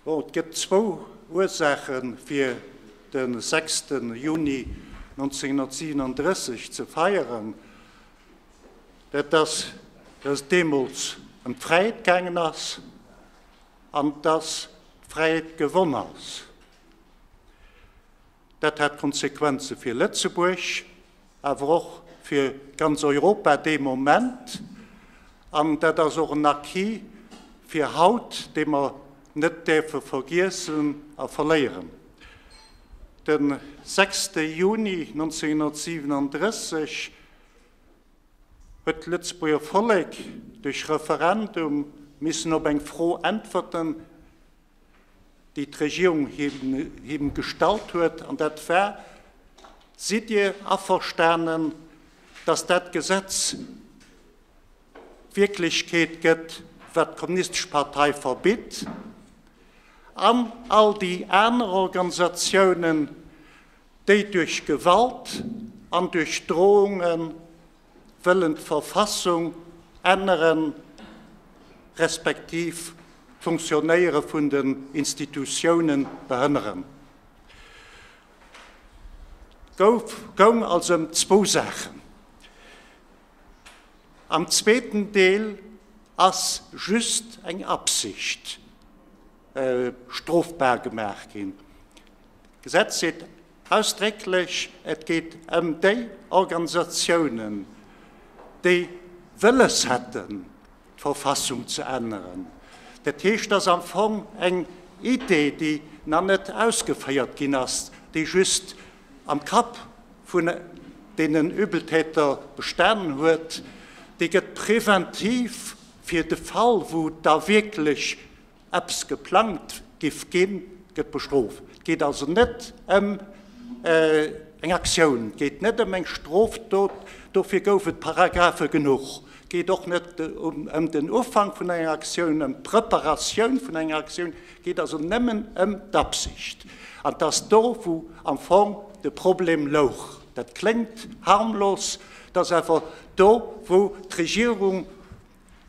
Bon, et gëtt zwou Ursaache fir de 6. Juni 1937 ze feieren. Dat ass, datt et deemools ëm d'Fräiheet gaangen ass an datt d'Fräiheet gewonn ass. Dat hat Konsequenze fir Lëtzebuerg, awer och fir ganz Europa dee Moment. An dat ass och en Acquis fir haut, dee mer net däerfe vergiessen a verléieren. De sechste Juni 1937 huet d'Lëtzebuerger Vollek duerch Referendum missen op eng Fro äntwerten, déi d'Regierung him gestallt huet, an dat war, Sidd Dir averstanen, datt dat Gesetz Wierklechkeet gëtt, wat d'Kommunistesch Partei verbitt, an all déi aner Organisatiounen, déi duerch Gewalt an duerch Drohungen wëllen d'Verfassung änneren, respektiv d'Funktionéiere vun den Institutioune behënneren. Gouf goung also ëm zwou Saachen. Am zweeten Deel ass just eng Absicht strofbar gemaach ginn. D'Gesetz seet Ausdrécklech, et geet ëm déi Organisatiounen, déi wëlles hätten, d'Verfassung ze änneren. Dat heescht, et ass am Fong eng Idee, déi nach net ausgeféiert ginn ass, déi just am Kapp vun deenen Übeltäter bestanen huet. Déi gëtt preventiv, fir de Fall, wou da wierklech eppes geplangt giff ginn, gëtt bestrooft. Et geet also net ëm eng Aktioun, et geet net ëm eng Strofdot, dofir gouf et Paragraphe genuch. Et geet och net ëm den Ufank vun enger Aktioun, ëm d'Preparatioun vun enger Aktioun, et geet also nëmmen ëm d'Absicht. An et ass do, wou am Fong de Problem louch. Dat kléngt harmlos, et ass awer do, wou d'Regierung,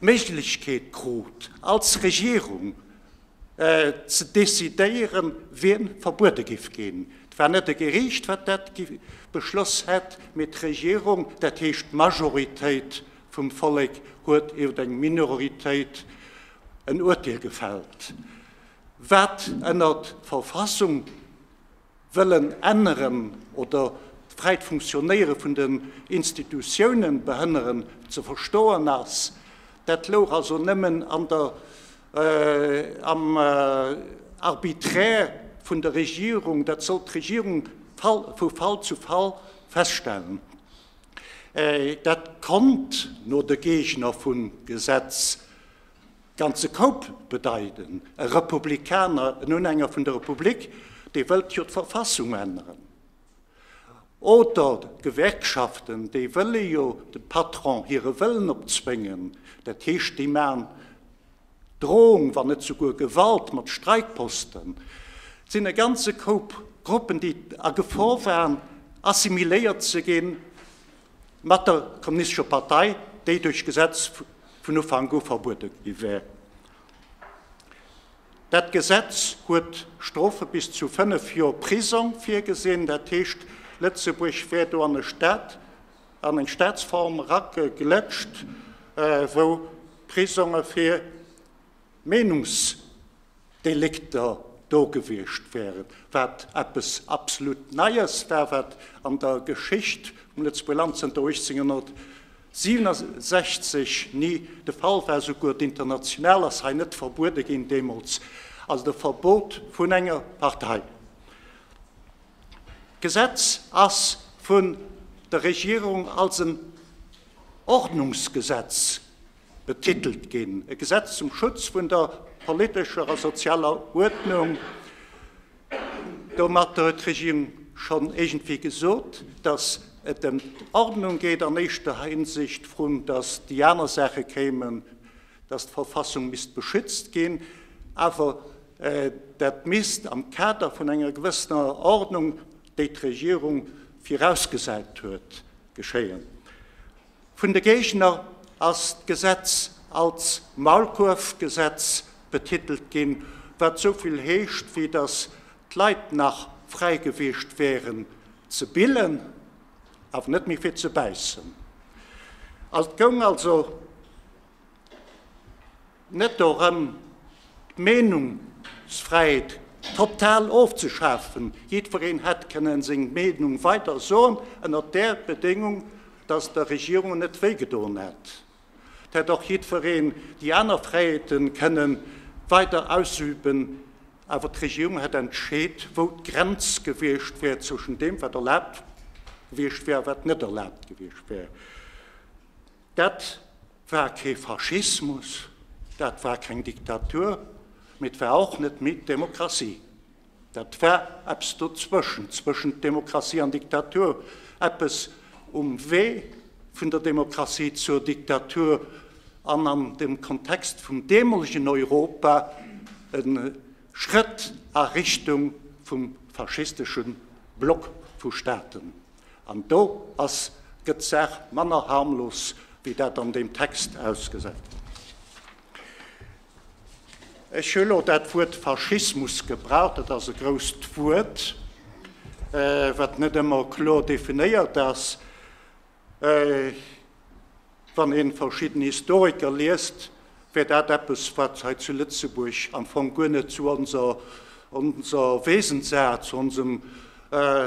d'Méiglechkeet krut, als Regierung ze decidéieren, wien verbuede giff ginn. Et war net e Geriicht, wat dat beschloss hätt, mee d'Regierung, dat heescht d'Majoritéit vum Vollek, huet iwwer eng Minoritéit en Urteel gefällt, wat ënnert Verfassung, wëllen änneren oder d'fräit Funktionéiere vun den Institutiounen behënneren, ze verstoen ass. Dat louch also nëmmen an der, am Arbitraire vun der Regierung. Dat sollt d'Regierung vu Fall zu Fall feststellen. Dat konnt no de Geegner vum Gesetz Ganze Koup bedeiten, e Republikaner, en Unhänger vun der Republik, dee wëllt jo d'Verfassung änneren. Oder d'Gewerkschaften, déi wëlle jo dem Patron hire Wëllen opzwéngen, dat heescht, déi maachen Drohung, wann net souguer Gewalt mat Streikposten. Et sinn e ganze Koup Gruppen, déi a Gefor waren, assimiléiert ze ginn. mat der Kommunistescher Partei, déi duerch Gesetz vun Ufank u verbuede gi wär. Dat Gesetz huet Strofe bis zu fënnef Joer Prisong virgesinn. Dat heescht, Lëtzebuerg wär do an e Staat, an eng Staatsform erageglétscht, wou Prisonge fir Meenungsdelikter do gewiescht wären, wat eppes absolut Neies war, wat an der Geschicht vum Lëtzebuerger Land zënter 1867 ni de Fall war. Souguer d'International ass hei net verbuede ginn deemools, also de Verbot vun enger Partei. D'Gesetz ass vun der Regierung als en Ordnungsgesetz betitelt ginn, e Gesetz zum Schutz vun der politescher a sozialer Uerdnung. Domatter huet d'Regierung schonn iergendwéi gesot, datt et ëm d'Ordnung geet an éischter Hinsicht, vrun datt déi aner Saache kéimen, datt d'Verfassung misst beschützt ginn, awer dat misst am Kader vun enger gewëssener Ordnung, déi d'Regierung virausgesäit huet, geschéien. Vun de Géigner ass d'Gesetz als Maulkuerfgesetz betitelt ginn, wat sou vill heescht wéi datt d'Leit nach fräi gewiescht wären ze billen, awer net méi fir ze bäissen. Et goung also. Net dorëm, d'Meenungsfräiheet total ofzeschafen. Jiddwereen hätt kënnen seng Meenung weider soen, ënnert där Bedéngung, datt der Regierung net wéi gedoen hätt. Et hätt och jiddwereen déi aner Fräiheete kënne weider ausüben, awer d'Regierung hätt entscheet, wou d'Grenz gewiescht wär zwëschen deem, wat erlaabt gewiescht wär a wat net erlaabt gewiescht wär. Dat war kee Faschismus, dat war keng Diktatur, mee et war och net méi d'Demokratie. Dat war eppes dozwëschent, zwëschent Demokratie an Diktatur, eppes um Wee vun der Demokratie zur Diktatur an an dem Kontext vum deemolegen Europa e Schrëtt a Richtung vum faschistesche Block vu Staaten. An do ass, gëtt d'Saach manner harmlos, wéi dat an deem Text ausgesäit. Ech hu lo dat Wuert Faschismus gebraucht. Dat ass e grousst Wuert, wat net ëmmer kloer definéiert ass. Wann ee verschidden Historiker liest, wär dat eppes, wat hei zu Lëtzebuerg am Fong guer net zu onser onser Wesensart, zu onsem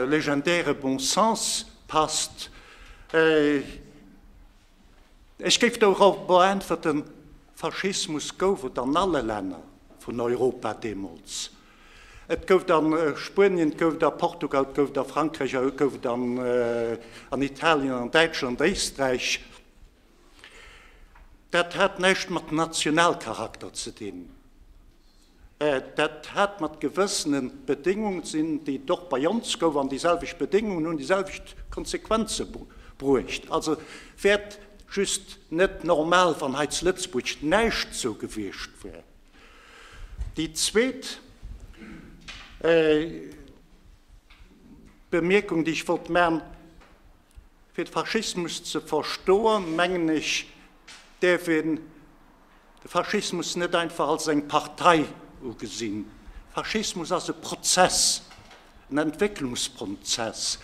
legendäre Bon Sens passt. Ech géif dorobber äntwerten, Faschismus gouf et an alle Länner vun Europa deemools. Et gouf et a Spuenien, et gouf et a Portugal, et gouf et a Frankräich a et gouf et an Italien, an Däitschland, Éisträich. Dat hat näischt mat Nationalcharakter ze dinn. Dat hat mat gewëssene Bedéngungen ze dinn, déi et och bei ons gouf. An déi selwecht Bedéngungen hunn déi selwecht Konsequenze bruecht. Also wäert just net normal, wann hei zu Lëtzebuerg näischt esou gewiescht wär. Déi zweet Bemierkung, déi ech wollt maachen, Fir de Faschismus ze verstoen, mengen ech, däerf een de Faschismus net einfach als eng Partei ugesinn. Faschismus ass e Prozess, en Entwécklungsprozess.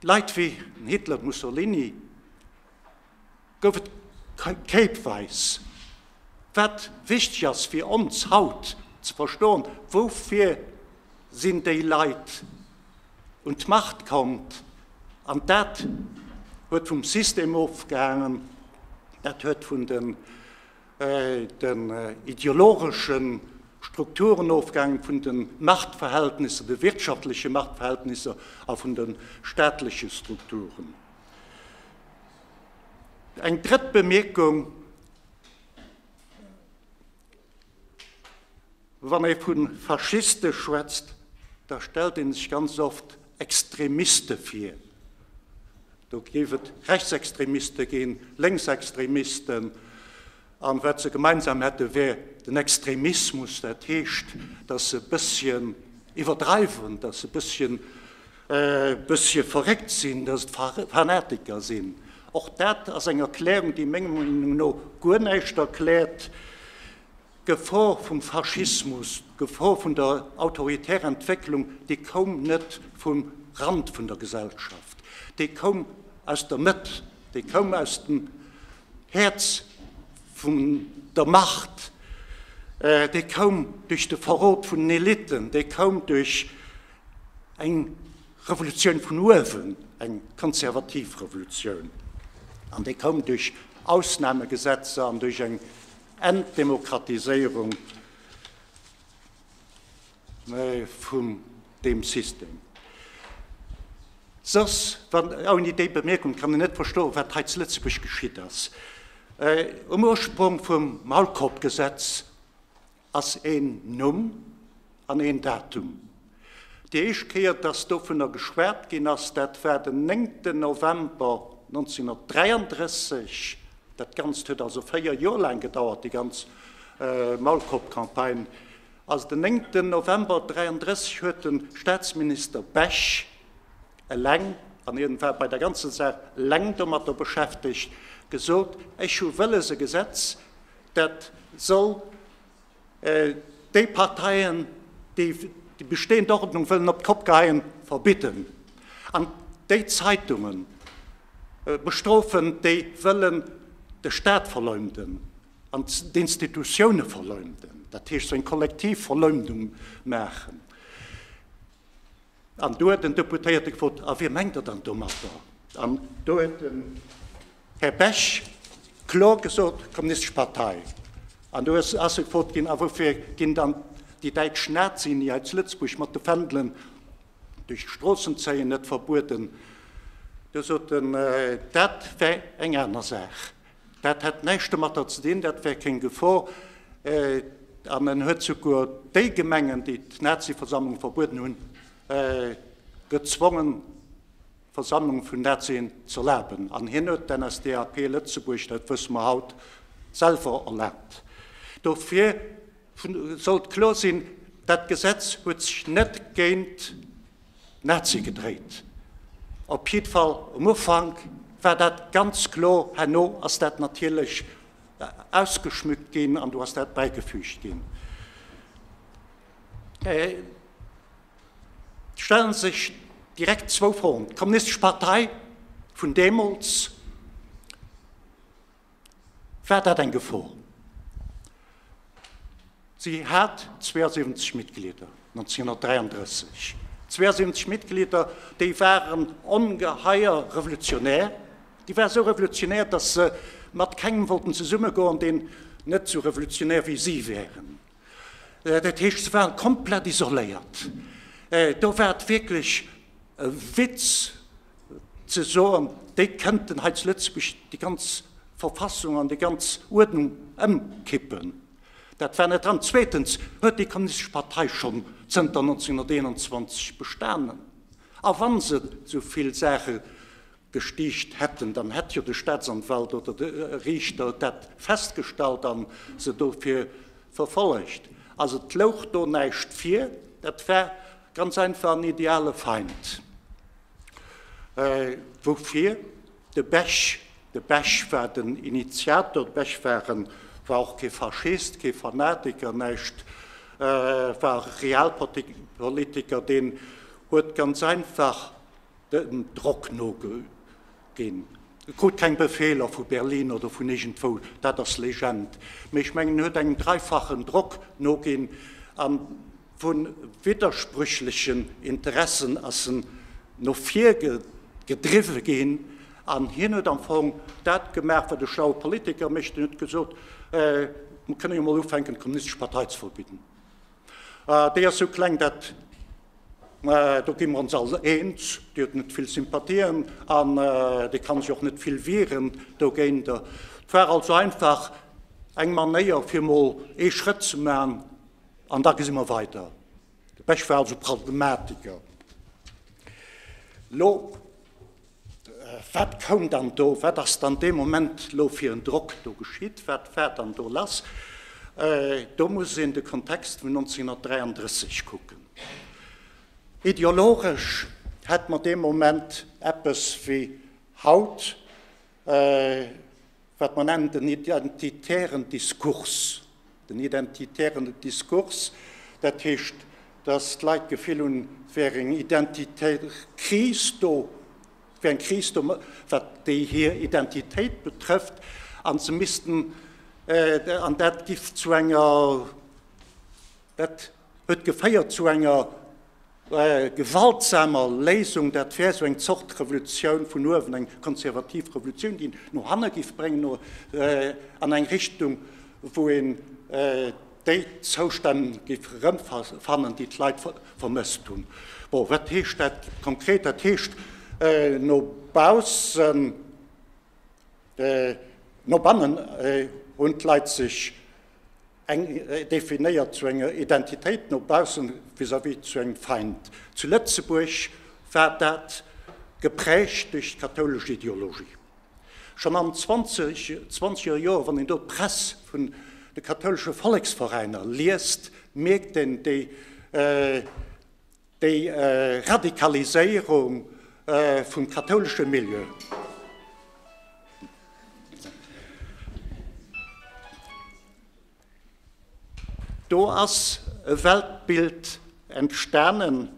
Leit wéi den Hitler, Mussolini, gouf et kéipweis. Wat wichteg ass fir ons haut ze verstoen, Woufir sinn déi Leit un d'Macht kommt? An dat huet vum System ofgehaangen, dat huet vun den ideologesche Strukturen ofgehaangen, vun de Machtverhältnisser, de wirtschaftleche Machtverhältnisser a vun de staatleche Strukturen. Eng drëtt Bemierkung, Wann ee vu Faschiste schwätzt, da stellt ee sech ganz oft Extremiste vir. Do géif et Rechtsextremiste ginn, Lénksextremisten, An wat se gemeinsam hätte wär den Extremismus, dat heescht, datt se e bësschen iwwerdreiwen, datt se e bësschen e bësschen verréckt sinn, datt et Fanatiker sinn. Och dat ass eng Erklärung, déi menger Meenung no guer näischt erkläert. D'Gefor vum Faschismus, d'Gefor vun der autoritärer Entwécklung, déi koum net vum Rand vun der Gesellschaft, déi koum aus der Mëtt, déi koum aus dem Häerz vun der Macht, déi koum duerch de Verrot vun den Eliten, déi koum duerch eng Revolutioun vun uewen, eng konservativ Revolutioun, an déi koum duerch Ausnamegesetzer an duerch eng Entdemokratiséierung. vun deem System. Soss, wann, ouni déi Bemierkung kann ech net verstoen, wat hei zu Lëtzebuerg geschitt ass. Um Ursprong vum Maulkorbgesetz ass een Numm an een Datum. Déi éischt Kéier, dass dovunner geschwat ginn ass, dat war den 9 November 1933. Dat Ganzt huet also véier Joer laang gedauert, déi ganz Maulkorbcampagne. Als den 9 ten November 33 huet den Staatsminister Bech eleng, an hien war bei der ganzen Saach eleng domatter beschäftegt, gesot, Ech hu wëlles e Gesetz, dat soll déi Parteien, déi déi bestehend Ordnung wëllen op d'Kopp geheien, verbidden, an déi Zeitungen bestrofen, déi wëllen de Staat verleumden. an d'Institutioune verleumden, dat heescht sou eng kollektiv Verleumdung maachen. An do huet den Deputéierte gefrot, A wie mengt Der dann domatter? An do huet den Här Bech kloer gesot, d'Kommunistesch Partei. An do ass ass e gefrot ginn, A woufir ginn dann déi däitsch Nazien, déi hei zu Lëtzebuerg mat de Fändelen duerch d'Stroossen zéien, net verbueden? Do sot en, Dat wär eng aner Saach. Dat hätt näischt domatter ze dinn, dat wär keng Gefor. An en huet souguer déi Gemengen, déi d'Nazi-Versammlung verbueden hunn, gezwongen, Versammlunge vun Nazien z'erlaben. An hien huet d'NSDAP Lëtzebuerg, dat wësse mer haut, selwer erlaabt. Dofir sollt kloer sinn, Dat Gesetz huet sech net géint Nazi gedréit. Op jidd Fall um Ufank war dat ganz kloer. Herno ass dat natierlech ausgeschmückt ginn an do ass dat bäigefügt ginn. Et stellen sech direkt zwou Froen. D'Kommunistesch Partei vun deemools. War dat eng Gefor? Si hat 72 Mitglieder 1933, 72 Mitglieder, déi waren ongeheier revolutionär. Déi war esou revolutionär, datt se mat kengem wollten zesummegoen, deen net esou revolutionär wéi si wären. Dat heescht, se waren komplett isoléiert. Do war et wierklech e Witz, ze soen, déi kënnten hei zu Lëtzebuerg déi ganz Verfassung an déi ganz Uerdnung ëmkippen. Dat war net dran. Zweetens huet déi Kommunistesche Partei schonn zënter 1921 bestanen. A wa se esou vill Saache gestiicht hätten, dann hätt jo de Staatsanwalt oder de Riichter dat festgestallt a se dofir verfollegt. Also et louch do näischt vir. Dat war Ganz einfach en ideale Feind. Woufir? De Bech. De Bech war den Initiator. De Bech war en, war och kee Faschist, kee Fanatiker, näischt, war e Realpolitiker, deen huet ganz einfach dem Drock nogeholl. Deen krut keng Befeeler vu Berlin oder vun iergendwou, dat ass Legend. Mee ech mengen, en huet engem dreifachen Drock noginn a vu widderspréchlechen Interessen ass en no vir gedriwwe ginn. An hien huet am Fong dat gemaach, wat e schlaue Politiker mécht, en huet gesot, Mir kënne jo mol ufänken, d'Kommunistesch Partei ze verbidden. Ah, déi ass sou kleng, dat, do gi mer ons all eens, déi huet net vill Sympathien an déi ka sech och net vill wieren dogéinter. Et war also einfach eng Manéier, fir emol ee Schrëtt ze maachen an da gesi mer weider. De Bech war also Pragmatiker. Elo Wat koum dann do, wat ass dann dee Moment lo fir en Drock do geschitt, wat war dann do lass? Do muss een de Kontext vun 1933 kucken. Ideologesch hätt mer dee Moment eppes wéi haut, wat mer nennen den identitären Diskurs, den identitären Diskurs, dat heescht, dass d'Leit d'Gefill hunn, et wär eng identitär Kris do, et wär eng Kris do, wat déi hir Identitéit betrëfft, an se missten, an dat géif zu enger, dat. huet geféiert zu enger gewaltsamer Léisung, dat wär esou eng Zort Revolutioun vun uewen, eng konservativ Revolutioun, déi no hanne géif bréngen, no an eng Richtung, wou een déi Zoustänn géif erëmfannen, déi d'Leit vermësst hunn. Bon, wat heescht dat konkret? Dat heescht no baussen, no bannen hunn d'Leit sech, Eng definéiert zu enger Identitéit no baussen, vis-à-vis zu engem Feind. Zu Lëtzebuerg war dat geprägt duerch d'kathoulesch Ideologie. Schonn am 20 zwanzege Joer, wann een do d'Press vun de kathoulesche Volleksveräiner liest, mierkt een déi. Déi Radikaliséierung vum kathoulesche Milieu. Do ass e Weltbild entstanen,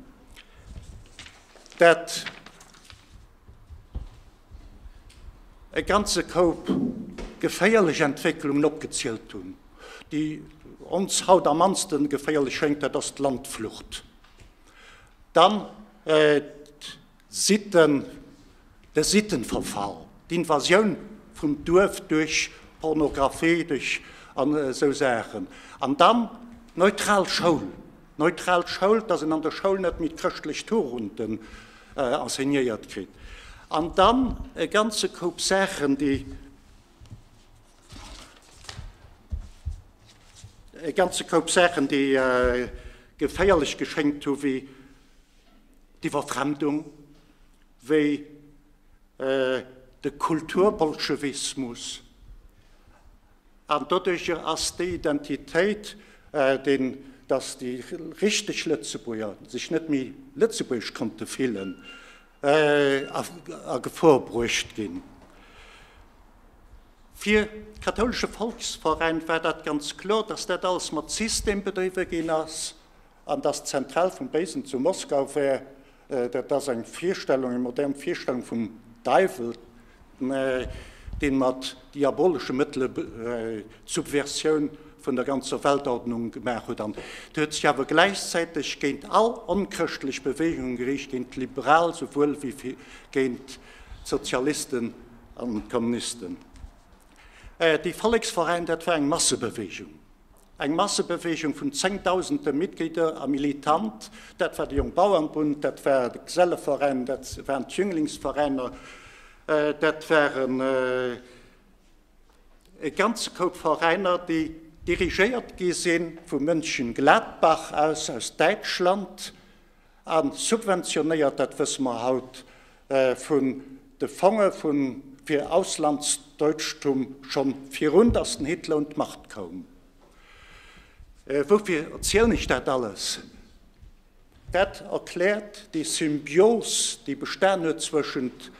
dat E ganze Koup geféierlech Entwécklungen opgezielt hunn, déi ons haut am mannste geféierlech schéngt, dat ass d'Landflucht, dann d'Sitten, de Sittenverfall, d'Invasioun vum Duerf duerch Pornografie, duerch an esou Saachen, an dann d'neutral Schoul, Neutral Schoul, dass en an der Schoul net méi d'chrëschtlech Tugenden enseignéiert kritt. An dann e ganze Koup Saachen, déi e ganze Koup Saachen, déi geféierlech geschéngt hu wéi d'Iwwerfremdung, wéi de Kulturbolschewismus, An doduerjer ass déi Identitéit, deen, datt déi richteg Lëtzebuerger sech net méi lëtzebuergesch konnte fillen, a Gefor bruecht ginn. Fir d'Kathoulesche Volksforein war dat ganz kloer, datt dat alles mat System bedriwwe ginn ass. An dass d'Zentral vum Béisen zu Moskau wär, dat ass eng Virstellung, eng modern Virstellung vum Däiwel, dee mat diabolesche Mëttele d'Subversioun vun der ganzer Weltordnung gemaach huet. An hie huet sech awer gläichzäiteg géint all onchrëschtlech Beweegunge geriicht, géint d'Liberal souwuel wéi géint d'Sozialisten an d'Kommunisten. Dee Volleksveräin, dat war eng Massebeweegung. Eng Massebeweegung vun zéngdausende Mitglieder a Militant, dat war de Jongbauernbund, dat war de Geselleveräin, dat waren d'Jünglingsveräiner, dat waren e ganze Koup Veräiner, déi dirigéiert gi sinn vu Mönchengladbach aus, aus Däitschland. An subventionéiert, dat wësse mer haut vun de Fonge fir Auslandsdeutschtum schon virun datt den Hitler un d'Macht koum. Woufir erzielen ech dat alles? Dat erkläert déi Symbios, déi bestan huet zwëschent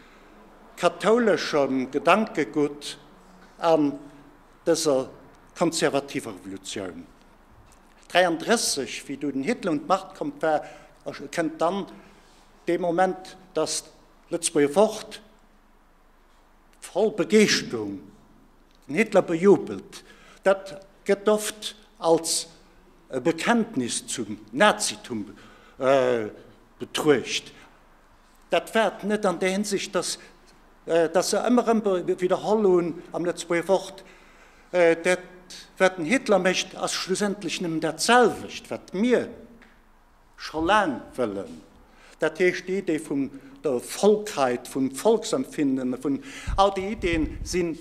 kathouleschem Gedankegutt an dëser konservativer Revolutioun. 33, wéi do den Hitler un d'Macht kommt war, kënnt dann dee Moment, datt d'Lëtzebuerger Wort voll Begeeschterung den Hitler bejubelt. Dat gëtt oft als e Bekenntnis zum Nazitum betruecht. Dat waert net an där Hinsicht, dass se ëmmer erëm widderholl hunn am Lëtzebuerger Wort, dat wat den Hitler mécht ass schlussendlech nëmmen dat selwecht wat mir scho laang wëllen, dat heescht déi Idee vum der Volkheit, vum Volksempfinden, vun all déi Ideen sinn,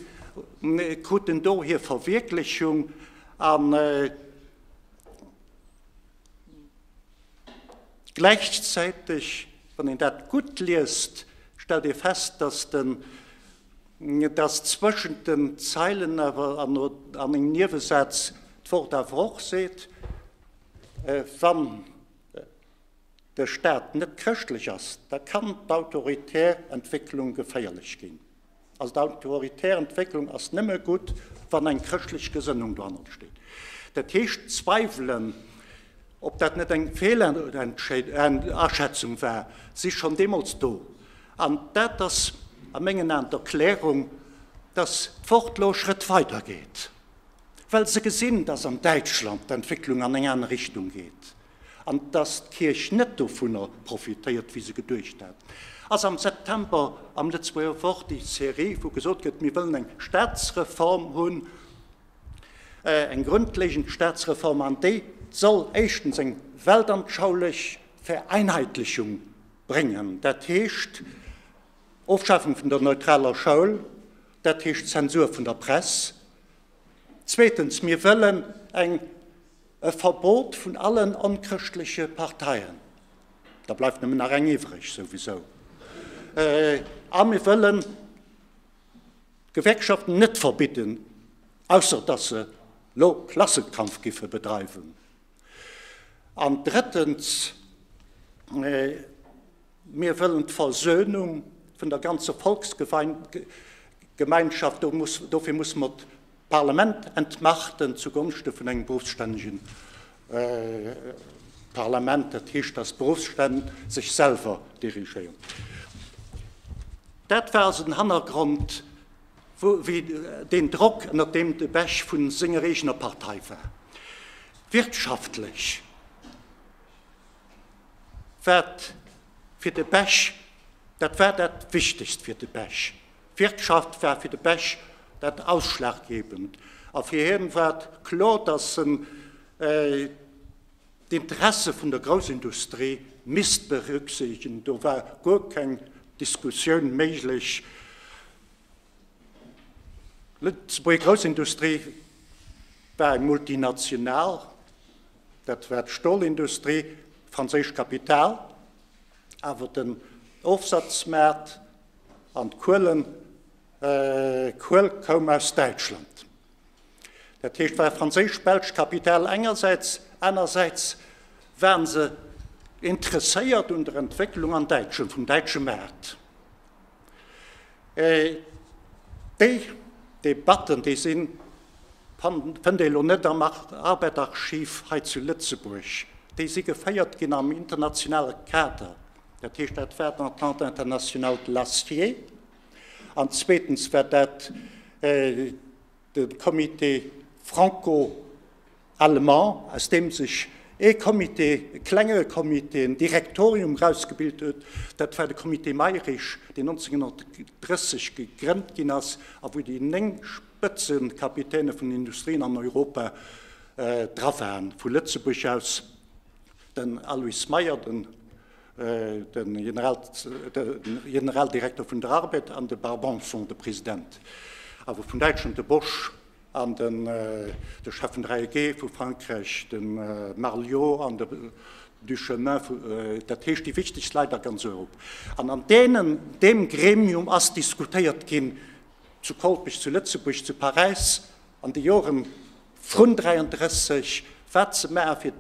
kruten do hir Verwierklechung. Gläichzäiteg, wann een dat gutt liest, stellt ee fest, datt den, datt zwëschent den Zeilen awer an engem Niewesaz d'Wort awer och seet, wann de Staat net chrëschtlech ass, da kann d'autoritär Entwécklung geféierlech ginn. Also d'autoritär Entwécklung ass nëmme gutt, wann eng chrëschtlech Gesënnung dohannert steet. Dat heescht, Zweiwelen, ob dat net eng Feelaschätzung war, si schonn deemools do. An dat ass a mengen Aen d'Erklärung, datt d'Wort elo e Schrëtt weider geet, well se gesinn, datt an Däitschland d'Entwécklung an eng aner Richtung geet. An dass d'Kierch net dovunner profitéiert, wéi se geduecht hat, ass am September am Lëtzebuerger Wort déi Serie, wou gesot gëtt, mir wëllen eng Staatsreform hunn, eng grondlegend Staatsreform, an déi soll éischtens eng weltanschaulich Vereinheitlichung bréngen, dat heescht Ofschafung vun der neutraler Schoul, dat heescht Zensur vun der Press. Zweetens, mir wëllen eng. E Verbot vun allen onchrëschtleche Parteien, da bleift nëmmen nach eng iwwreg souwisou. A mir wëllen d'Gewerkschaften net verbidden, ausser datt se elo Klassenkampf géife bedreiwen. An drëttens, mir wëllen d'Versönung vun der ganzer Volksgemeinschaft, dofir musse mer D'Parlament entmachten zu Gonschte vun engem beruffsstännegen Parlament, dat heescht, dass d'Beruffsstänn sech selwer dirigéieren. Dat war also den Hannergrond, wéi deen Drock, ënnert deem de Bech vu senger eegener Partei war. Wirtschaftlech war fir de Bech, dat war dat Wichtegst fir de Bech, D'Wirtschaft war fir de Bech dat Ausschlaggebend a fir hien war et kloer, datt en d'Interesse vun der Groussindustrie misst berücksiichtegen. Do war guer keng Diskussioun méiglech. D'Lëtzebuerger Groussindustrie war eng Multinational, dat war d'Stolindustrie, franséischt Kapital, awer den Ofsazmaart, An d'Kuel koum aus Däitschland. Dat heescht, war franséisch-belsch Kapital engersäits, anersäits waren se interesséiert un der Entwécklung an Däitschland, vum däitsche Maart. Déi Debatten, déi sinn, fënnt ee elo net am Arbed-Archiv hei zu Lëtzebuerg, déi si geféiert ginn am internationale Kader, Dat heescht, dat war d'Entente internationale de l'acier. An zweetens war dat de Comité franco-allemand, aus deem sech ee Comité, e klenge Comité, en Direktorium erausgebilt huet. Dat war de Comité Mayrisch, deen 1930 gegrënnt ginn ass a wou déi néng Spëtzekapitäne vun den Industrien an Europa dra waren, vu Lëtzebuerg aus. Den Aloyse Meyer, de Generaldirekter vun der ARBED, an de Bart Banson, de President awer vun Däitschland, de Bosch, an de Chef vun der AEG vu Frankräich, de Marc Liot, an de Duchemin, dat heescht déi wichtegst Leit a ganz Europa. An an deem Gremium ass diskutéiert ginn, zu Kolpech, zu Lëtzebuerg, zu Paräis an de Joren, Vrun 33, wat ze maache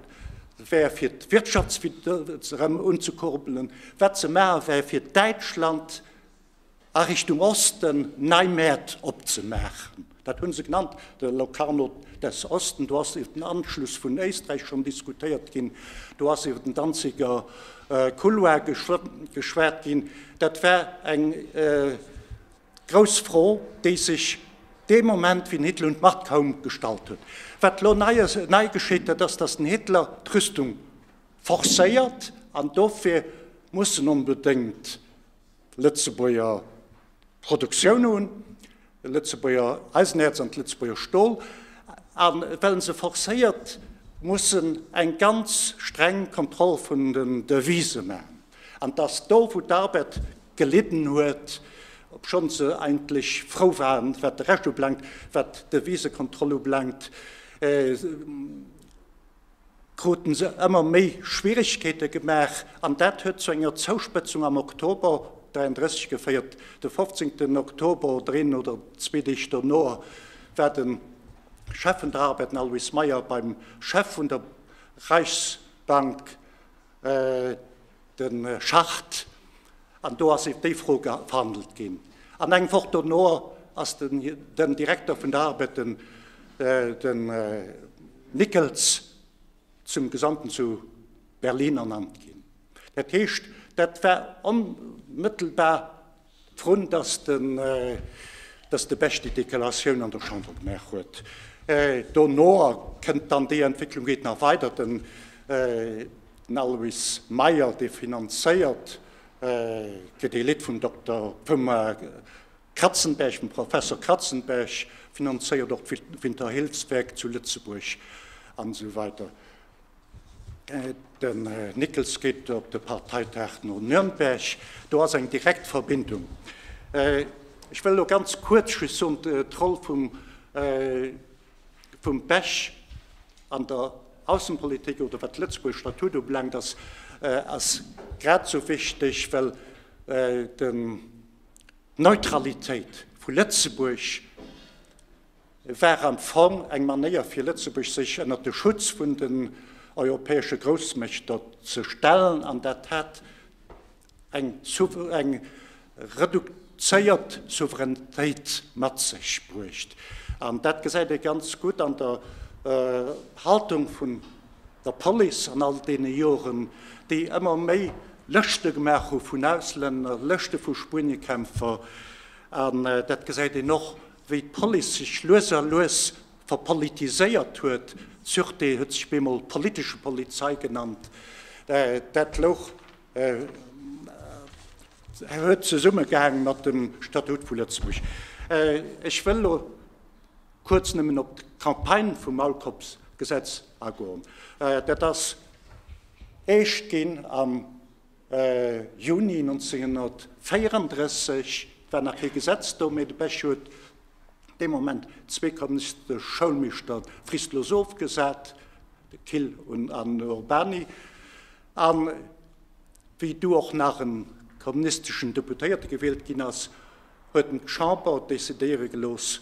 wär fir d'Wirtschaftswuesstem erëm unzekurbelen, wat ze maache wär fir Däitschland a Richtung Osten nei Mäert opzemaachen. Dat hu se genannt, de Locarno des Osten. Do ass iwwer den Anschluss vun Éisträich schonn diskutéiert ginn, do ass iwwer den Danziger Couloir geschwat ginn. Dat war eng. Grouss Fro, déi sech dee Moment wien Hitler un d'Macht koum gestallt huet. Wat elo nei geschitt, dat ass, datt den Hitler d'Rüstung forcéiert an dofir muss en onbedéngt Lëtzebuerger Produktioun hunn, Lëtzebuerger Eisenäerz an Lëtzebuerger Stol. A well en se forcéiert, muss en eng ganz streng Kontroll vun den Devise maachen. An dass do, wou d'Arbed gelidden huet, obschonns se eigentlech frou waren, wat de Rescht ubelaangt, wat d'Devisekontroll ubelaangt, kruten se ëmmer méi Schwierigkeete gemaach. An dat huet zu enger Zouspëtzung am Oktober 33 geféiert. De 15. Oktober oder een oder zwee Deeg dono war de Chef vun der Arbed, den Alois Meyer, beim Chef vun der Reichsbank, de Schacht, an do ass iwwer déi Fro verhandelt ginn. An eng Woch dono ass den Direkter vun der ARBED, den Nickels, zum Gesandten zu Berlin ernannt ginn. Dat heescht, dat war onmëttelbar. Vrun dass den dass de Bech déi Dekelatioun an der Chamber gemaach huet. Dono kënnt dann déi Entwécklung geet nach weider. Den den Alois Meyer dee finanzéiert fir dee Lidd vum Dokter vum Kratzenberg vum Professor Kratzenberg finanzéiert och d'Winterhillswerk zu Lëtzebuerg an esou weider. Den Nickels geet op de Parteitag no Nürnberg. Do ass eng direkt Verbindung. Ech wëll elo ganz kuerz just soen, d'Roll vum vum Bech an der Aussenpolitik oder wat d'Lëtzebuerger Statut ubelaangt, ass ass grad esou wichteg, well den d'Neutralitéit vu Lëtzebuerg, Et war am Fong eng Manéier fir Lëtzebuerg sech ënnert de Schutz vun den europäesche Groussmächter ze stellen an dat hat eng reduzéiert Souveränitéit mat sech bruecht. An dat gesäit ee ganz gutt an der Haltung vun der Police an all deene Joren, déi ëmmer méi Lëschte gemaach hu vun Auslänner, Lëschte vu Spueniekämpfer. An dat gesäit een och Wéi d'Police sech lues a lues verpolitiséiert huet, d'Sûreté huet sech bemol politesche Polizei genannt, dat louch, huet zesummegehaang mat dem Statut vu Lëtzebuerg. Ech wëll elo kuerz nëmmen op d'Campagne vum Maulkorbsgesetz agoen. Dat ass eescht ginn am. Juni 1934, et war nach kee Gesetz do, mee de Bech huet dee Moment zwee kommunistesche Schoulmeeschter fristlos ofgesat, de Kill un an den Urbany. A wéi du och nach e kommunisteschen Deputéierte gewielt ginn ass, huet en d'Chamber decidéiere gelooss,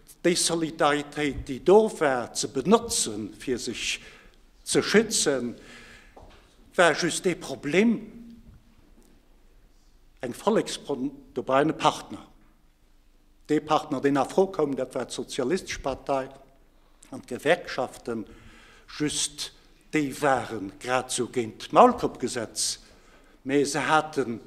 Déi Solidaritéit, déi do war, ze benotzen, fir sech ze schützen, war just ee Problem, Eng Volleksfront, do war een e Partner. Dee Partner, deen a Fro koum, dat war d'Sozialistesche Partei an d'Gewerkschaften. Just Déi ware grad esou géint d'Maulkoppgesetz, mä se haten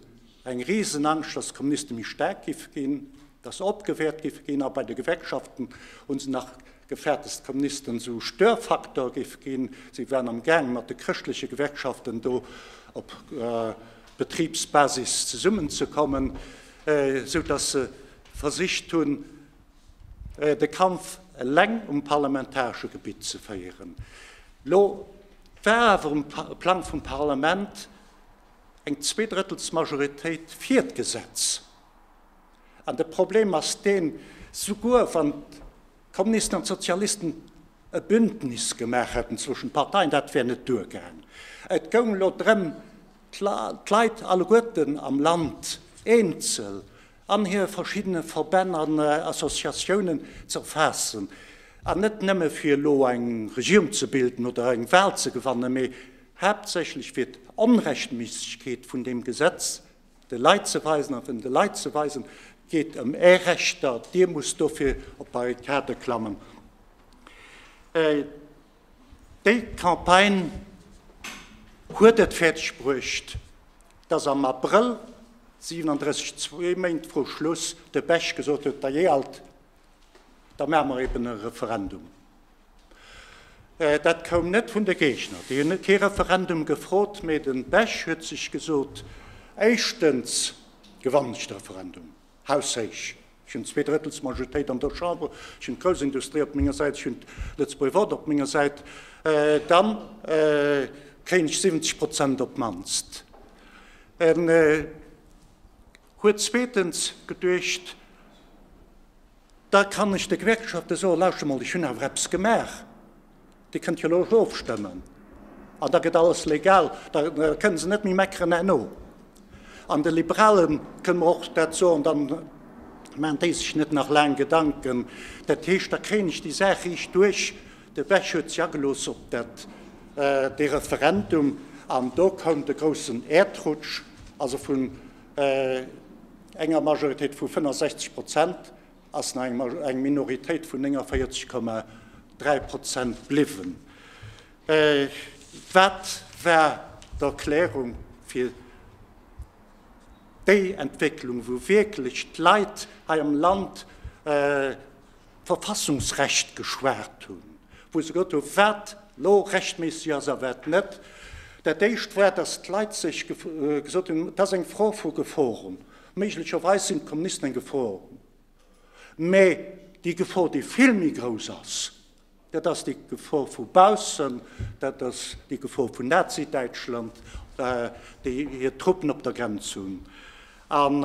eng risen Angscht, datt d'Kommuniste méi staark géife ginn, datt se opgewäert géife ginn. A bei de Gewerkschaften hu se nach gefäert, datt d'Kommunisten esou Störfaktor géife ginn. Si waren am Gaang, mat de chrëschtleche Gewerkschaften do op Betribsbasis zesummenzekommen, esou datt se versicht hunn, de Kampf eleng um parlamentaresche Gebitt ze féieren. Elo war awer um Plang vum Parlament eng Zweedrëttelsmajoritéit fir d'Gesetz. An de Problem ass deen, souguer wann d'Kommunisten an d'Sozialisten e Bündnis gemaach hätten zwëschen de Parteien, dat wär net duergaang. Et goung elo drëm, d'Leit alleguerten am Land eenzel an hir verschiddene Verbänn an Associatiounen ze erfaassen, an net nëmme fir elo eng Regierung ze bilden oder eng Wahl ze gewannen, mee haaptsächlech fir d'Onrechtméissegkeet vun deem Gesetz de Leit ze weisen a de Leit ze weisen, Et geet ëm Är Rechter, Dir musst dofir op d'Barrikade klammen. Déi Campagne huet et fäerdeg bruecht, dass am Abrëll 37, zwee Méint vru Schluss, de Bech gesot huet, Dajee alt, da maache mer eben e Referendum. Dat koum net vun de Géigner, déi hunn kee Referendum gefrot, mee de Bech huet sech gesot, Éischtens gewannen ech de Referendum. haushéich. Ech hunn zwee Drëttels Majoritéit an der Chamber, ech hunn d'Groussindustrie op menger Säit, ech hunn d'Lëtzebuerg Wort op menger Säit, da kréien ech 70 Prozent op d'mannst. En huet zweetens geduecht, da kann ech de Gewerkschafte soen, Lauscht emol, ech hunn awer eppes gemaach. Dir kënnt jo elo och ofstëmmen an da gëtt alles legal. Da kënnen se net méi meckeren herno. An de Liberalen kënnen mer och dat soen, dann maachen déi sech net nach laang Gedanken. Dat heescht, da kréien ech déi Saach riicht duerch. De Bech huet se agelooss op dat, dee Referendum an do koum de groussen Äerdrutsch, also vun enger Majoritéit vu 65 Prozent, ass nach eng Maj eng Minoritéit vun 49,3 Prozent bliwwen. Äh, wat war d'Erklärung fir déi Entwécklung, wou wierklech d'Leit hei am Land äh, Verfassungsrecht geschwat hunn, wou se gesot hunn, wat elo rechtméisseg ass a wat net? Dat Éischt war, datt d'Leit sech gef gesot hunn, dat ass eng Fro vu Geforen. Méiglecherweis sinn d'Kommunisten eng Gefor, mä déi Gefor, déi vill méi grouss ass, dat ass déi Gefor vu baussen, dat ass déi Gefor vun Nazi-Däitschland, déi hir Truppen op der Grenz hunn. An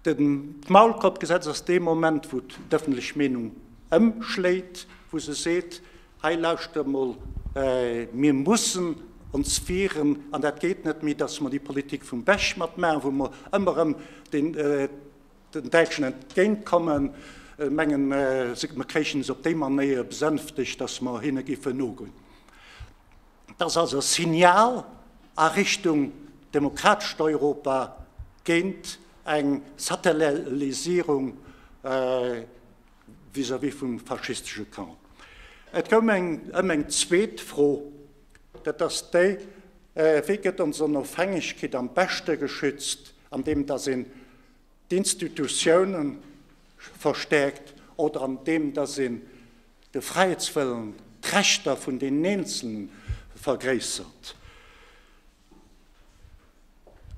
d'Maulkoerpgesetz ass dee Moment, wou d'ëffentlech Meenung ëmschléit, wou se seet, Hei lauscht emol, mir mussen ons wieren an dat geet net méi, dass mer déi Politik vum Bech matmaachen, wou mer ëmmer erëm den Däitschen entgéint kommen, mengen mer kréichen se op déi Manéier besänftegt, dass mer hinne géifen nogoen. Dat ass also e Signal a Richtung demokratescht Europa géint eng Satellisierung, vis-à-vis vum faschistesche Camp. Et koum eng ëm eng zweet Fro, dat ass déi, Wéi gëtt ons Onofhängegkeet am beschte geschützt, andeem datt een d'Institutiounen verstäerkt oder andeem datt een de Fräiheetswëllen, d'Rechter vun deenen Eenzelnen vergréissert?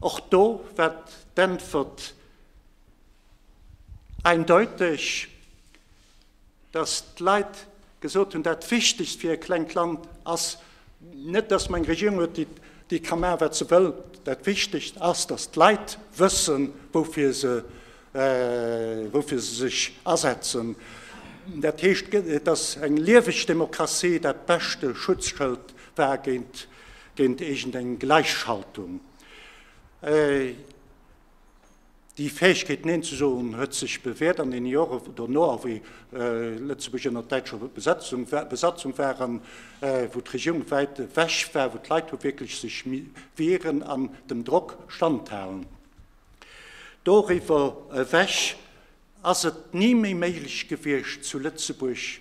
Och do war d'Äntwert eindeuteg, dass d'Leit gesot hunn, dat Wichtigst fir e klengt Land ass net, dass mer eng Regierung hunn, déi ka maachen, wat se wëll, dat Wichtigst ass, dass d'Leit wëssen, woufir se sech asetzen. Dat heescht, dass eng lieweg Demokratie dat beschte Schutzschëld war géint géint iergend eng Gläichschaltung. Déi Fäegkeet Neen ze soen huet sech bewäert an deene Jore dono, a wéi Lëtzebuerg ënner däitscher Besatzung war an wou d'Regierung wäit ewech war, wou d'Leit hu wierklech sech mi wieren an dem Drock standhalen. Doriwwer ewech ass et ni méi méiglech gewiescht zu Lëtzebuerg,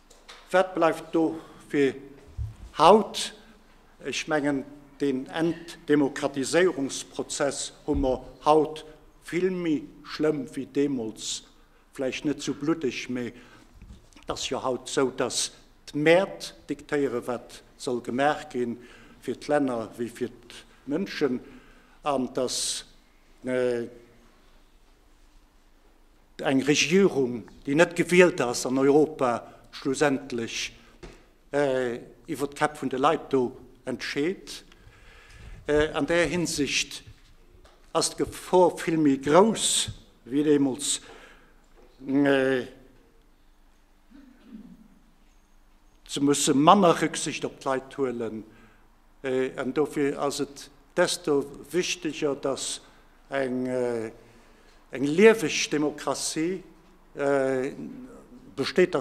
Wat bleift do fir haut? Ech mengen, deen Entdemokratiséierungsprozess hu mer haut vill méi schlëmm wéi deemools, vläicht net esou bluddeg, mee et ass jo haut esou, datt d'Mäert diktéieren, wat soll gemaach gi fir d'Länner wéi fir d'Mënschen, an datt. Eng Regierung, déi net gewielt ass an Europa schlussendlech iwwer d'Käpp vun de Leit do entscheet. An där Hinsicht ass d'Gefor vill méi grouss wéi deemools ze musse manner Rücksicht op d'Leit huelen, An dofir ass et desto wichteger, datt eng lieweg Demokratie besteet,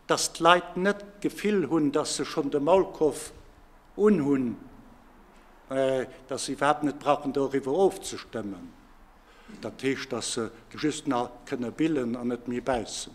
datt d'Leit net d'Gefill hunn, datt se schonn de Maulkoff unhunn, datt se iwwerhaapt net brauchen doriwwer ofzestëmmen, dat heescht, datt se just nach kënne billen an net méi bäissen.